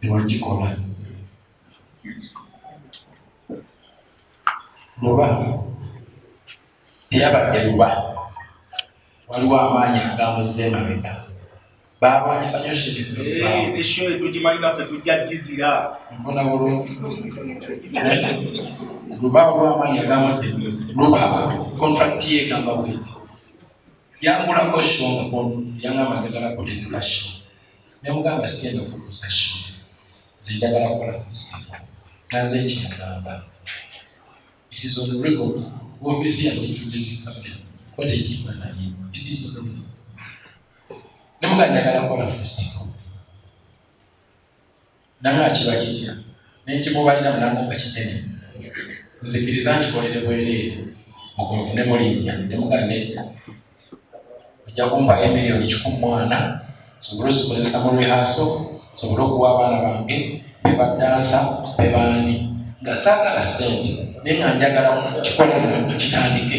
tewakikola luba teyabadde luba waliwo amaanyi agamuze emabega balwanyisa nyo shetugimalinafetujajizira nfuna bulungi luba olwamaanyi agamudde luba kontrakiti yegamba bweti yangulako sho yangamba njagala kutegeka sho nemugamba sigenda kukuza show nze njagala kukola festival naze ekyagamba it is on record ofisi yange tujizikabira kote ekifananye it is on record nemuga njagala kukola festival Nanga kiba kitya nenkimubalira mulango nga kinene nzikiriza nkikolere bwereere mugwe nfunemu linnya nemuga nedda ojja kumpa emiliyoni kikumi mwana nsobole ozikozesa mu rehaaso nsobole okuwa abaana bange bebaddansa bebaani nga saagala ssente naye nga njagala kukikola kitandike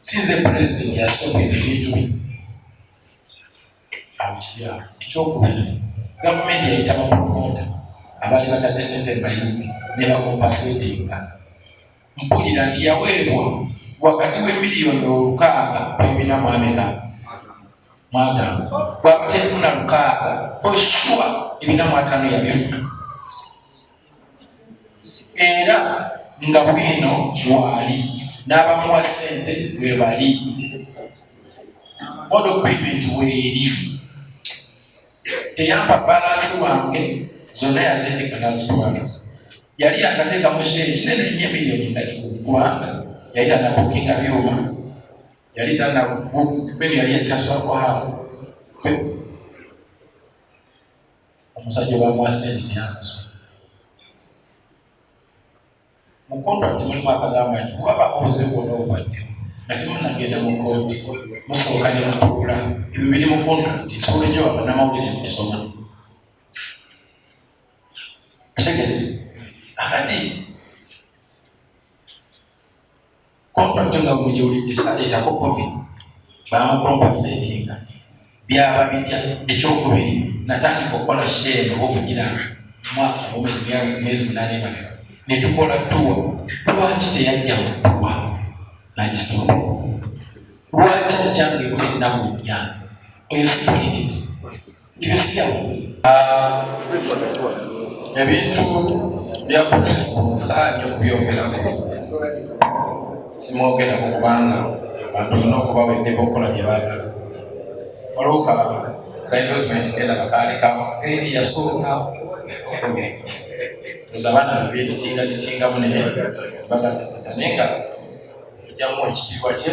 sinze pulezidenti yasooka ebintu bye abikirya ekyokubiri gavumenti yayita bapromoda abaali batadde sente bayimbi ne bakompasetinga mpulira nti yaweebwa wakati w'emiliyoni olukaaga pemina mwameka mwagamba bwaba tefuna lukaaga for sure ebina mwatano yabifuna era nga bwino waali n'abamuwa ssente bwe bali model payment weeri teyampa balansi wange zonna yazindika nazitwala yali yakateeka mu sheeri kinene nnyo emiliyoni nga kikumi kubanga yali tanabukinga byuma yali tanabukinga yali ensasula kwa haafu omusajja obamuwa sente teyansasula mu kontrakiti mulimu akagamba nti waba obuze bwona obubadde nga temunagenda mu kooti musooka ne mutuula ebyo biri mu kontrakiti nsobola ekyo babanamawulire netusoma tegere akati Contract nga buli gy'olidde saleetako profit bamukompensatinga byaba bitya ekyokubiri natandika okukola share oba okugira mwaka omwezi myezi munane emabega ne tukola tuwa lwaki teyajja mu tuwa nagisitoola lwaki akyange ennaku nnya oyo si politics Nimesikia mfuzi. Ah, ebintu bya principle nsaanye okubyogerako simwogerako kubanga bantu olina okuba weddeko okukola bye baagala waliwo ka kainvestment kenda kakaalekawo eri yasooka oza abaana bebye litinga litingamu naye bagataata naye nga tujjamu ekitiibwa kye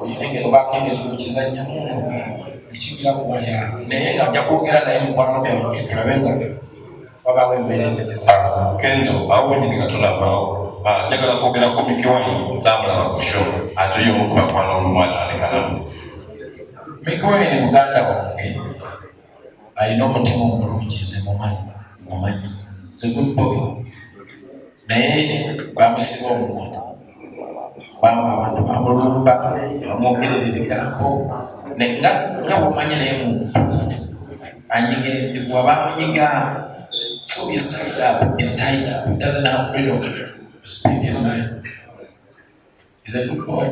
oyinengero bakengeri nokizanya muno ekibira kuwaya naye nga nja kwogera naye mukwano gwange kalabe nga wabawo embeera entegeza kenzo awo wenyini nga tulabawo ah, njagala kwogera ku mikiwayi nzamulaba ku sho ate yomu ku bakwana olumu atandikanamu mikiwayi ni muganda wange alina omutima omulungi nze mumanyi mumanyi nze good boy naye bamusiba omukono bamu abantu bamulumba bamwogerera ebigambo nga bamanya naye muntu anyigirizibwa bamunyiga so is tied up is tied up he doesn't have freedom to speak his mind is a good boy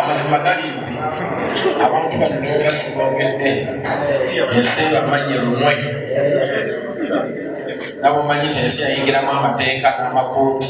amazima gali nti abantu bano nebasiboogedde ensi bamanye lumwe nabomanyi nti ensi yayingiramu amateeka n'amakuuti